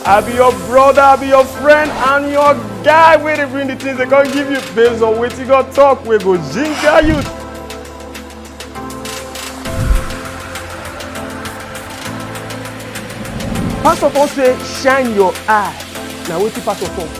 I be your brother, I be your friend, and your guy wey dey bring the things they come give you based on wetin God talk wey go ginger you. Pastor Paul say shine your eye. Na wetin pastor talk.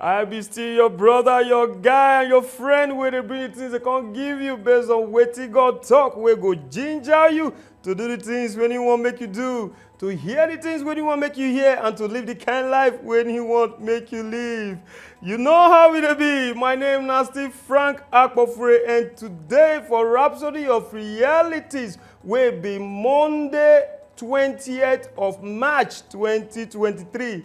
I be still your brother, your guy, and your friend wey dey bring the things they come give you based on wetin God talk wey go ginger you to do the things when he wan make you do, to hear the things when he wan make you hear, and to live the kind life when he want make you live. You know how e dey be. My name na still Frank Akpofure, and today for Rhapsody of Realities wey be Monday 20th of March 2023.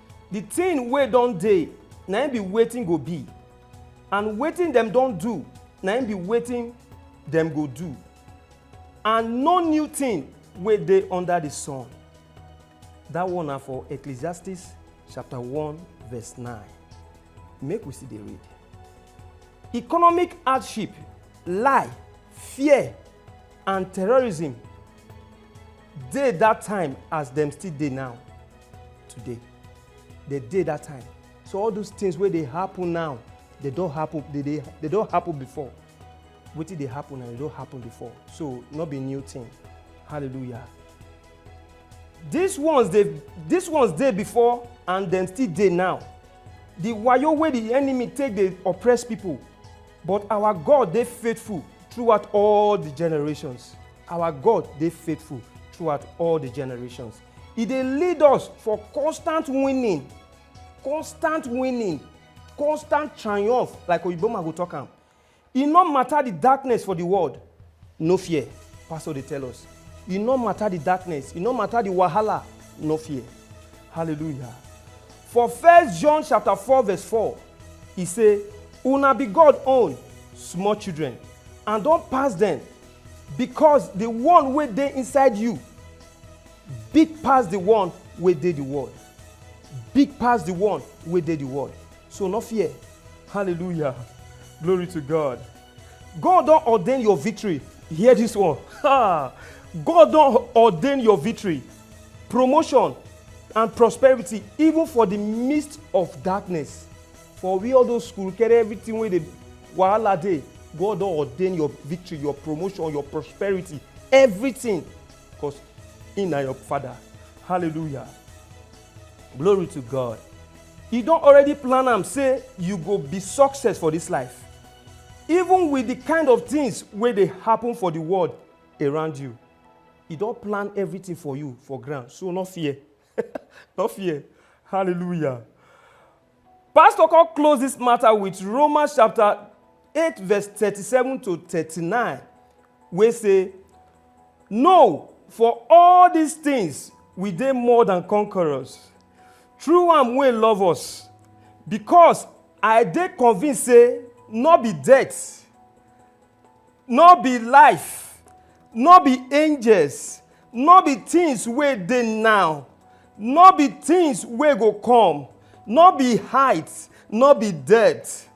the thing wey don dey na im be wetin go be and wetin dem don do na im be wetin dem go do and no new thing wey dey under the sun that one na for ecclesiastes chapter 1 verse 9 make we still dey read economic hardship lie fear and terrorism dey that time as dem still dey now today dey dey that time so all those things wey dey happen now dey don happen dey dey dey don happen before wetin dey happen now dey don happen before so no be new thing hallelujah these ones dey these ones dey before and dem still dey now the wayo wey the enemy take dey oppress people but our god dey faithful throughout all the generations Our God dey faithful throughout all the generations. He dey lead us for constant winning, constant winning, constant triumph, like Oyiboma go talk am. E no matter the darkness for the world, no fear, Pastor dey tell us. E no matter the darkness, e no matter the wahala, no fear. Hallelujah. For First John chapter 4 verse 4, e say, Una be God own, small children, and don pass dem Because the one wey dey inside you big pass the one wey dey the world. Big pass the one wey dey the world. So no fear. Hallelujah. Glory to God. God don ordain your victory. Hear this one. Ha! God don ordain your victory, promotion, and prosperity, even for the midst of darkness. for we all those school carry everything wey dey wahala dey god don ordain your victory your promotion your prosperity everything because he na your father hallelujah glory to god he don already plan am say you go be success for this life even with the kind of things wey dey happen for the world around you he don plan everything for you for ground so no fear no fear hallelujah Pastor come close this matter with Romans chapter 8 verse 37 to 39 wey say, No, for all these things we dey more than conquerors through am wey love us because I dey convinced say no be death no be life, no be angels, no be things wey dey now, no be things wey go come, no be height, no be depth,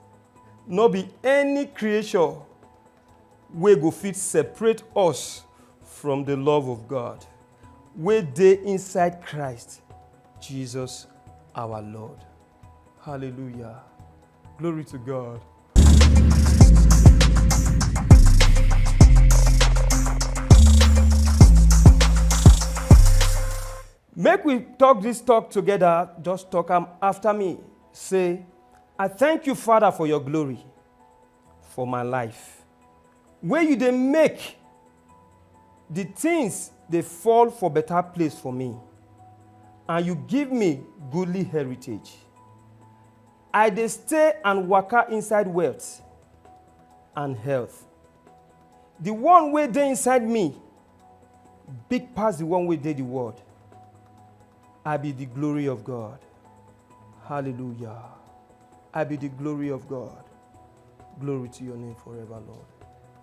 no be any creature wey go fit separate us from the love of God wey dey inside Christ Jesus our Lord. Hallelujah. Glory to God. Make we talk this talk together, just talk am after me. Say, I thank you, Father, for your glory, for my life. Where you dey make the things dey fall for better place for me, and you give me goodly heritage. I dey stay and waka inside wealth and health. The one wey dey inside me big pass the one wey dey the world. I be the glory of God. Hallelujah. I be the glory of God. Glory to your name forever, Lord.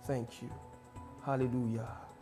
Thank you. Hallelujah.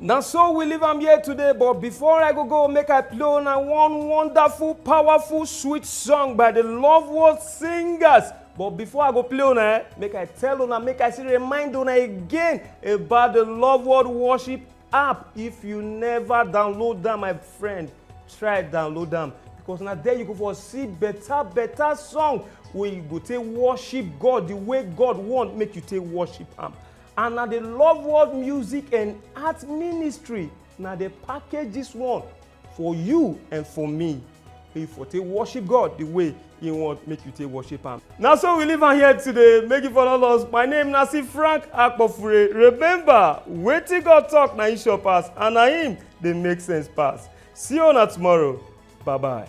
na so we leave am here today but before i go go make i play una one wonderful powerful sweet song by the love world singers but before i go play una eh, make i tell una make i still remind una again about the love world worship app if you never download am my friend try download am because na there you go for see better better song wey you go take worship god the way god want make you take worship am and na the love world music and art ministry na dey package this one for you and for me make you for take worship god the way he want make you take worship am. na so we leave am here today make you follow us my name na si frank akpofure remember wetin god talk na him sure pass and na him dey make sense pass see una tomorrow bye bye.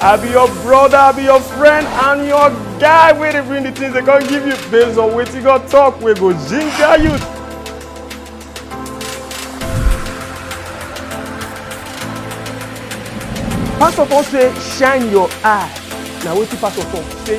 I be your brother, I be your friend, and your guy wey dey bring the things they come give you based on wetin God talk wey go ginger you. Pastor Paul say shine your eye. Na wetin pastor talk say